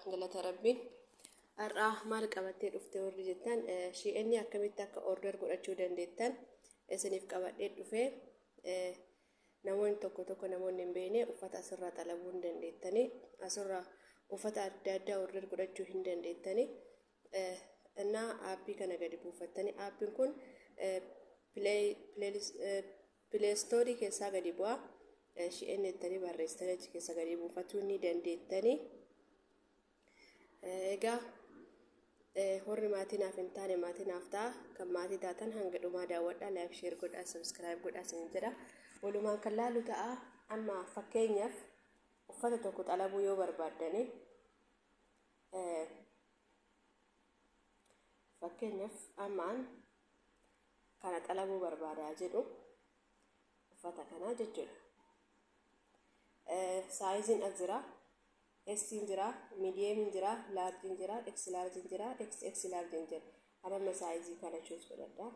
Galata Rabbii. Har'aa maal qabattee dhufte warri jettan shi'eenni akkamitti akka order godhachuu dandeettan isiniif qabadhee dhufee namoonni tokko tokko namoonni hin beekne uffata asirraa xalabuu hin dandeettanii asirraa uffata adda addaa order godhachuu hin dandeettanii innaa aappii kana gadi buufattanii aappiin kun Pileestoorii keessaa gadi bu'a. Shi'een jettanii barreessitanii achi keessa gadi buufatuu ni dandeettanii. Egaa horri maatii naaf hin taane maatii naaf ta'a. Kan maatii taatan hanga dhumaa daawwadhaa. Laayik sheer godhaa sabiskiraayib godhaa isin jedha. Walumaan kan laalu ta'a. Amma fakkeenyaaf uffata tokko xalabuu yoo barbaaddanii fakkeenyaaf ammaan kana xalabuu barbaada jedhu uffata kanaa jechuudha. Saayiziin as jira. Essiin jira, miidiyeemiin jira, laarjiin jira, eksi laarjiin jira, eksi eksi laarjiin jira. Amma saayizii kana chuus godhadha.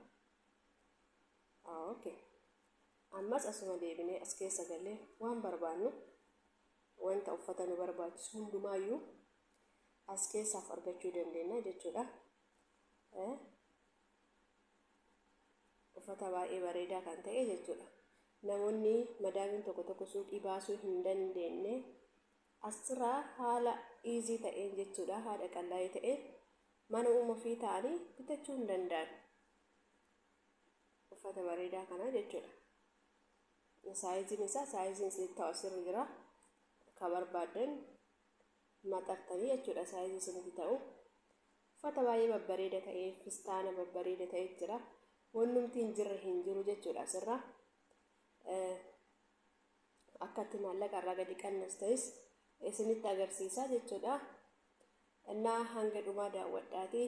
Okay. Ammas asuma deebinee as keessa galee waan barbaannu wanta uffata nu barbaachisu hundumaayyuu as keessaaf argachuu dandeenya jechuudha. uffata baay'ee bareedaa kan ta'e jechuudha. Namoonni madaamiin tokko tokko suuqii baasuu hin dandeenye asirraa haala iizii ta'een jechuudha haadha qallaa'ee ta'een mana uuma ofii ta'anii bitachuu hin danda'an. Uffata bareedaa kana jechuudha. Saayiziin isaa saayiziin siif ta'u asirra jira. Akka barbaaddan maxxattanii jechuudha saayizii isinitti ta'u. Uffata baay'ee babbareeda ta'e, fistaana babbareeda ta'e jira. Wannumti hin jirre hin jiru jechuudha asirraa. Akkatti maallaqa irraa gadi qannas ta'es isinitti agarsiisa jechuudha. Innaa hanga dhumaa daawwadhaati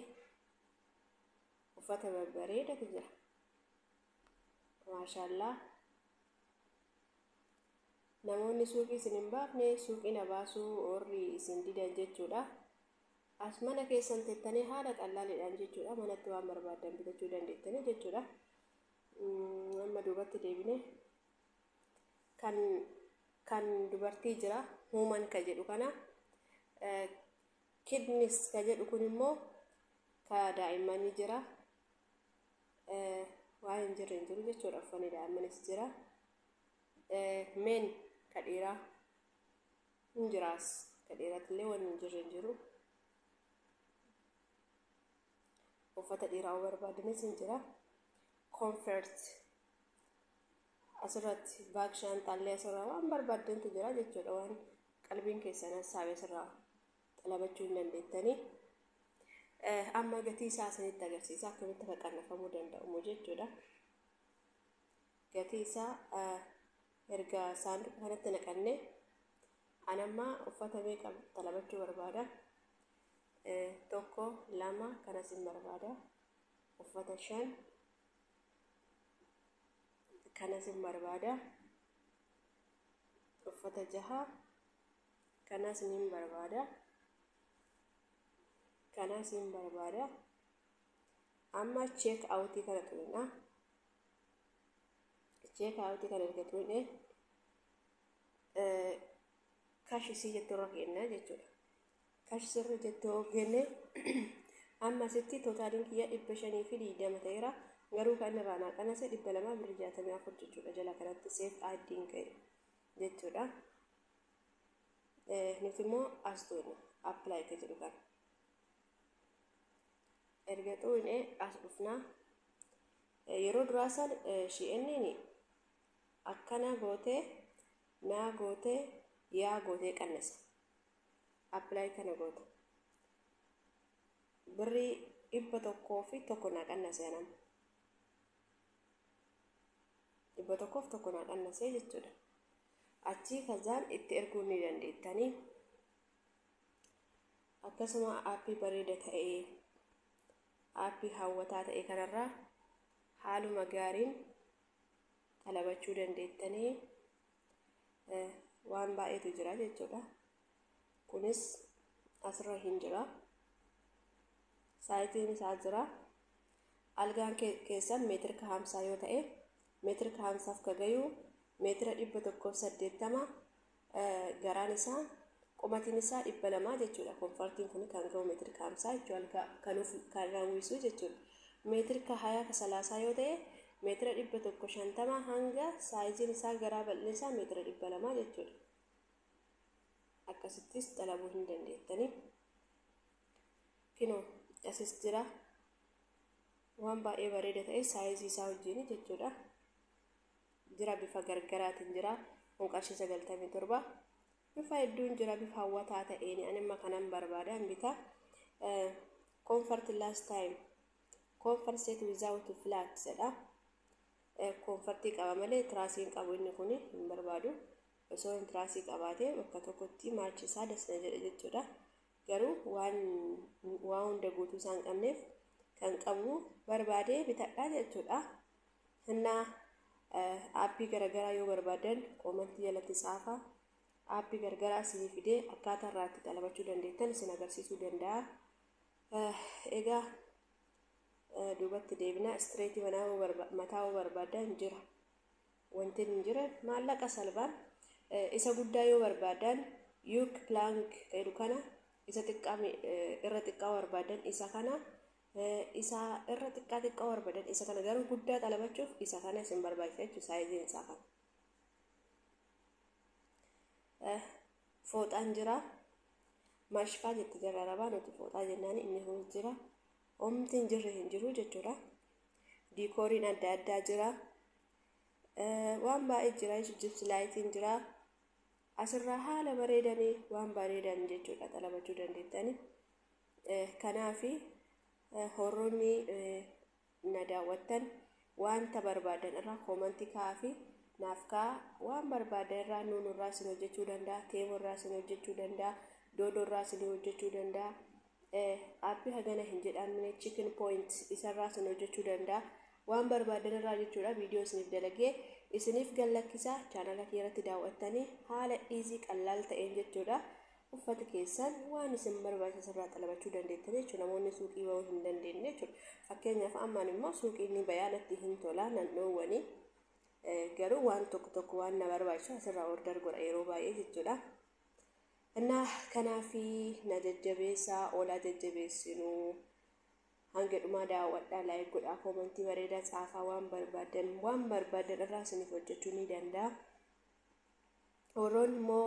uffata babbareedatu jira. Maashaallah. Namoonni suuqii isin hin baafne suuqii na baasuu warri isin didan jechuudha. As mana keessan tettanii haala qallaaliidhaan jechuudha manatti waan barbaaddan bitachuu dandeettanii jechuudha. Mm, Amma duubatti deebine kan kan dubartii jira human ka jedhu kana eh, kidneys ka jedhu kun immoo ka daa'immanii jira eh, waa hin jirre hin jiru jechuudha uffanni daa'immanis jira eh, men ka dhiiraa hin jiraas ka dhiiratillee wanni hin jirre hin jiru uffata dhiiraa barbaadanis hin jira comfort asirratti baak shaanxaallee asirraa waan barbaaddantu jira jechuudha waan qalbiin keessan hassaabe asirraa xalabachuu hin dandeettanii amma gatii isaa isinitti agarsiisa akkamitti akka qannafamuu danda'amu jechuudha gatii isaa erga saanduqa kanatti naqanne an amma uffata meeqa talabachuu barbaada tokko lama kanas hin barbaada uffata shan kanas hin barbaada uffata jaha kanas hin barbaada kanas hin barbaada amma cheek awutii kana tuqna Ichee kaawutii kan erga tuune kash isii jettu irra keenna jechuudha. Kash sirri jettu hoggenne amma asitti tootaaliin kiyya dhibba shanii fi digdama ta'eera. Garuu kan irraa naa qanase dhibba lamaa birrii jaatamii afur jechuudha jala kanatti seef aaddiin ka'e jechuudha. Nuti immoo as tuune appilaayi kan jedhu kana. erga xuuyne as dhufna yeroo duraa san shi'enniin akkana gootee naa gootee yaa gootee qannasa apply kana goota birrii dhibba tokkoo fi tokko naa qannase anam dhibba tokkoof tokko naa qannase jechuudha achii kazaan itti erguu ni dandeettanii akkasuma aappii bareeda ta'e aappii hawwataa ta'e kanarraa haaluma gaariin talabachuu dandeettanii eh, waan baay'eetu jira jechuudha kunis asirra hin jira saayitiin isaa jira algaan ke- keessan meetirka hamsaa yoo ta'e meetirka hamsaaf ka gayu meetira dhibba tokkoof saddeettama garaan isaa qomatiin isaa dhibba lamaa jechuudha konfartiin kun kan ga'u meetiri kaamsaa jechuu algaa kan of kan raawwisu jechuudha meetiri ka hayaa ka salaasaa yoo ta'e meetira dhibba tokko shantama hanga saayiziin isaa garaa bal'ina isaa meetira dhibba lamaa jechuudha akkasittis xalabuu hin dandeettanii kinoo asis jira waan baay'ee bareeda ta'e saayizii isaa wajjin jechuudha jira bifa gargaraatiin jira kun qarshii sagaltamii torba bifa hedduun jira bifa hawwataa ta'een ani amma kanan barbaade an bita comfort last time comfort set without flat jedha koonfartii qaba malee tiraasii hin qabu inni kun hin barbaadu osoo hin tiraasii qabaatee bakka tokkotti maachi isaa das na jedhe jechuudha garuu waan waa hunda guutuu isaan qabneef kan qabu barbaadee bitadhaa jechuudha Hannaa aappii garagaraa yoo barbaadan koomantii jalatti tsaafaa. Aappii gargaraa isinii fidee akkaataa irraa itti xalabachuu dandeettan isin agarsiisuu danda'a. Egaa duubatti deebina istireetii mataa yoo barbaadan jira. Wanti hin jira maallaqa salbaan isa guddaa yoo barbaadan yuuk pilaank jedhu kana isa xiqqaa irra xiqqaa barbaadan isa kana isa irra xiqqaa xiqqaa barbadan isa kana garuu guddaa xalabachuuf isa kana isin barbaachisa jechuudha saayiziin isaa kana. Fooxaan jira mashfaa jetti jirra arabaa nuti fooxaa jennaan inni kun jira omti hin jirre hin jiru jechuudha. Diikooriin adda addaa jira waan baay'ee jira jibsi laayitiin jira asirraa haala bareedanii waan bareedan jechuudha xalabachuu dandeettanii. Kanaaf horroonni na daawwattan wanta barbaadan irraa koomantii kaa'aa fi naaf kaa'aa waan barbaadan irraa nuun irraa isin hojjechuu danda'a teemo irraa isin hojjechuu danda'a doodoo irraa isin hojjechuu danda'a aappii hagana hin jedhamne chicken point isarraa isin hojjechuu danda'a waan barbaadan irraa jechuudha viidiyoo isiniif dalagee isiniif gallakkisaa chaanala kee irratti daawwattanii haala dhiizii qallaal ta'een jechuudha uffata keessan waan isin barbaachisu irraa xalabachuu dandeettan jechuudha namoonni suuqii bahuu hin dandeenye jechuudha fakkeenyaaf ammaan immoo suuqii ni bayaa natti hin tolaa nan dhoowwani garuu waan tokko tokko waan na barbaachisu asirraa order godha yeroo baay'ee jechuudha innaa kanaafi na jajjabeessaa oolaa jajjabeessinu hanga dhumaa daawwadhaa laayik godhaa koomantii bareedaa caafaa waan barbaadan waan barbaadan irraa isiniif hojjechuu ni danda'a warroonni immoo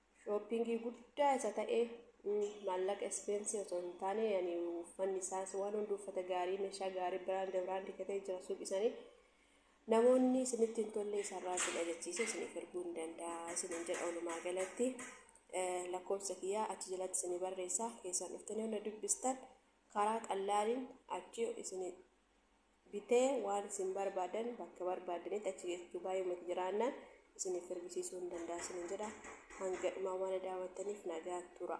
Shooppingii guddaa isa ta'e maallaqa ispeensi osoo hin taane yani uffanni isaas waan hundi uffata gaarii meeshaa gaarii biraand biraand katee jira suuqi isaanii namoonni isinitti hin tolle isarraa isin ajachiise isiniif erguu hin danda'a isinin jedha olumaa galatti lakkoofsa kiyyaa achi jalatti isinii barreessaa keessan dhuftanii hunda dubbistan karaa qallaaliin achi isin bitee waan isin barbaadan bakka barbaadanitti achi geessu Dubaay uummati jiraannaan isiniif ergisiisuu hin danda'a isiniin jedha. Hanga dhumaa waan daawwattaniif nagaan tura.